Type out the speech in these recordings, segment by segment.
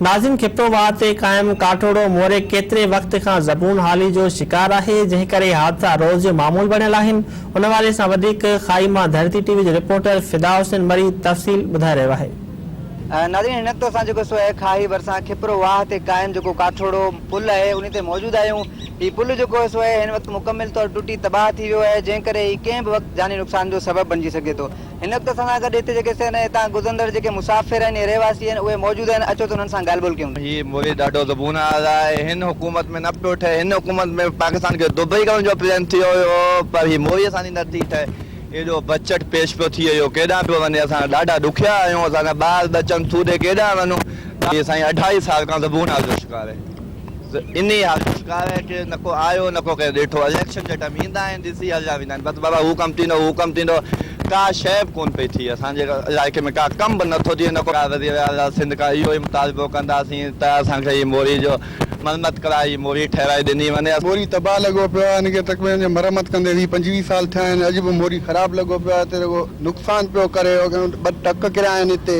ناظم خطو واهه تي قائم ڪاٺوڙو موري ڪيتري وقت کان زبون حالي جو شڪار آهي، جنهن ڪري حادثا روز جو معمول بڻيل آهن. ان حوالي سان وڌيڪ خائي مان ڌرتي ٽي وي جو رپورٽر فدا حسين مري تفصيل ٻڌائي رهيو آهي. ناظرين هن نقطي سان جيڪو سو اهي کاهي ڀرسان کپرو واهه تي قائم جيڪو ڪاٺوڙو پل اهي انهي تي موجود آهيون هي پل جيڪو سو اهي هن وقت مڪمل طور ٽٽي تباهه ٿي ويو اهي جنهن ڪري هي ڪنهن به وقت جاني نقصان جو سبب بڻجي سگهي ٿو. هن وقت اسان سان گڏ هتي جيڪي سين ۽ هتان گذرندڙ جيڪي مسافر آهن يا رهواسي آهن اهي موجود آهن اچو ته انهن سان ڳالهه ٻولهه ڪيون. هي موري ڏاڍو زبون آور آهي هن حڪومت ۾ نه پيو ٺهي هن حڪومت ۾ پاڪستان کي دبئي ڪرڻ جو پلان ٿيو هيو پر هي موري اسان جي نه ٿي ٺهي ايڏو بجچٽ پيش پيو ٿئي اهو ڪيڏانهن پيو وڃي اسان ڏاڍا ڏکيا آهيون اسان جا ٻار ٻچن سوڌي ڪيڏانهن وڃون. هي سائين اڍائي سال کان زبون آور جو شڪار آهي. انهي حالت ۾ ڪاري کي نه ڪو آيو نه ڪو ڪنهن ڏٺو. اليڪشن جي ٽائيم ايندا آهن ڏسي هليا ويندا آهن بس بابا هو ڪم ٿيندو هو ڪم ٿيندو ڪا شئي به ڪونه پئي ٿئي اسان جي علائقي ۾ ڪا ڪم به نه ٿو ٿئي نه ڪو وزير اعليٰ سنڌ کان اهو ئي مطالبو ڪنداسين ته اسان کي هي موري جو مرمت ڪرائي هي موري ٺهرائي ڏني وڃي. موري تباهه لڳو پيو آهي ان کي تقريبن جو مرمت ڪندي ويهه پنجويهه سال ٿيا آهن اڄ به موري خراب لڳو پيو آهي هتي رڳو نقصان پيو ڪري ٻه ٽڪ ڪريا آهن هتي.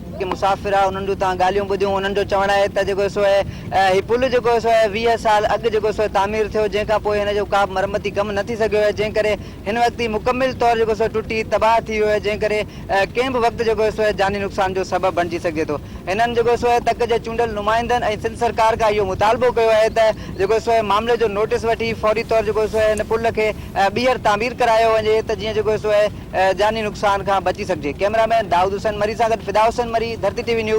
جيڪي مسافر آ انهن جون توهان ڳالهيون ٻڌيون انهن جو چوڻ آهي ته جيڪو سو هي پل جيڪو سو ويهه سال اڳ جيڪو سو تعمير ٿيو جنهن کان پوء هن جو ڪابه مرمتي ڪم نه ٿي سگهيو آهي جنهن ڪري هن وقت هي مڪمل طور جيڪو سو ٽٽي تباهه ٿي ويو آهي جنهن ڪري ڪنهن به وقت جيڪو سو جاني نقصان جو سبب بڻجي سگهجي ٿو هنن جيڪو سو تڪ جي چونڊيل نمائندن ۽ سنڌ سرڪار کان اهو مطالبو ڪيو آهي ته جيڪو سو معاملي جو نوٽس وٺي فوري طور جيڪو سو هن پل کي ٻيهر تعمير ڪرايو وڃي ته جيئن جيڪو سو جاني نقصان کان بچي سگهجي. ڪئميرا مين دائود حسين مري سان گڏ فدا حسين مري، ڌرتي ٽي وي نيوز.